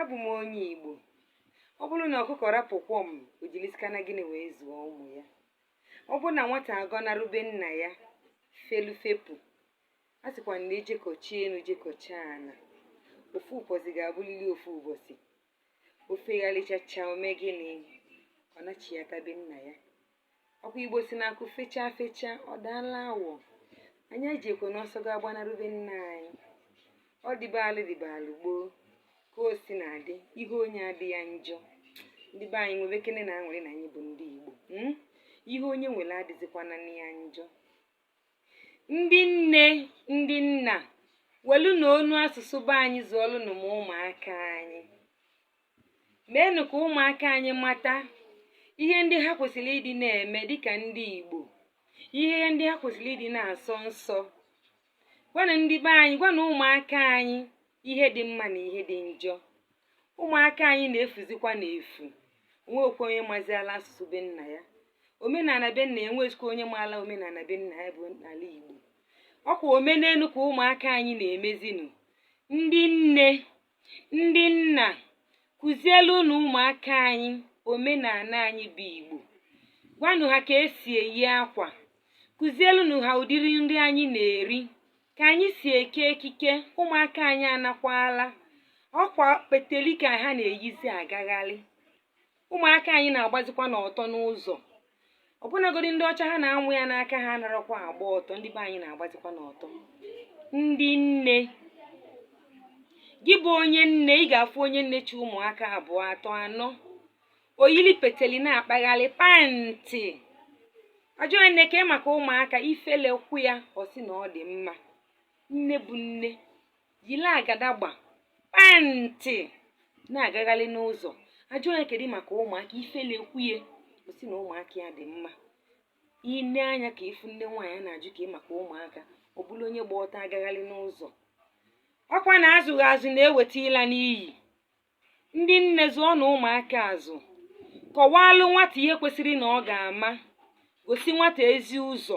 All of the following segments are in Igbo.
abụ m onye Igbo ọ bụrụ na ọkụkọ rapụ kwọm o jilisikana gịnị wee zụọ ụmụ ya ọ bụrụ na nwata agọnarụ be nna ya felu fepụ a sịkwa na e jekọchaa enu jekọchaa ana ofu ụbọchị ga-abụlili ofu ụbọchị o fegharịchachaa o mee gịnị ọ nachiata be nna ya ọkwa igbo sị na akụ fechaa fechaa ọ daala awọ anyị ejikwana ọsọ ga agbanarụ be nna anyị ọ dịbalụ dịbalụ gboo ka o si na-adị ihe onye adị ya njọ ndị be anyị nwebekenenụ aṅụrị na anyị bụ ndị igbo mm? ihe onye nwere adịzikwana ya njọ ndị nne ndị nna welunụ onu asụsụ be anyị zụọlụnụ ụmụaka anyị meenụ ka ụmụaka anyị mata ihe ndị ha kwesịrị ịdị na-eme dịka ndị Igbo ihe ndị ha kwesịrị ịdị na-asọ nsọ gwanụ ndị be anyị gwanụ ụmụaka anyị ihe dị mma na ihe dị njọ ụmụaka anyị na-efuzikwanụ efu o nwekwa onye maziala asụsụ be nna ya omenala be nna ya enwezikwa onye maala omenala be nna ya bụ ala Igbo ọkwa omenelu ka ụmụaka anyị na-emezinụ ndị nne ndị nna kụzielunụ ụmụaka anyị omenala anyị bụ igbo gwanụ ha ka e si eyi akwa kụzielunụ ha ụdịrị nri anyị na-eri ka anyị si eke ekike ụmụaka anyị anakwala ọkwa peteli ka ha na-eyizi agagharị ụmụaka anyị na-agbazikwanụ ọtọ n'ụzọ ọbụnagodi ndị ọcha ha na-amụ ya n'aka ha anarakwa agba ọtọ ndị be anyị na-agbazikwanụ ọtọ ndị nne gị bụ onye nne ị ga-afụ onye nne chị ụmụaka abụọ atọ anọ o yili peteli na-akpagharị pantị a jụọ nne kee maka ụmụaka ifele kwụ ya ọ sị na ọ dị mma nne bụ nne yiri agadagba pantị na-agagharị n'ụzọ a jụọ ya kedu maka ụmụaka ifele kwuye ọ sị na ụmụaka ya dị mma i lee anya ka ị fụ nne nwaanyị a na-ajụ kee maka ụmụaka ọ bụrụ onye gba ọtọ agagharị n'ụzọ ọkwa na azụghị azụ na-eweta ịla n'iyi ndị nne zụọnụ ụmụaka azụ kọwalụ nwata ihe kwesịrị na ọ ga-ama gosi nwata ezi ụzọ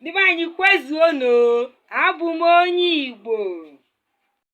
ndị be anyị kwezuonu abụ m onye igbo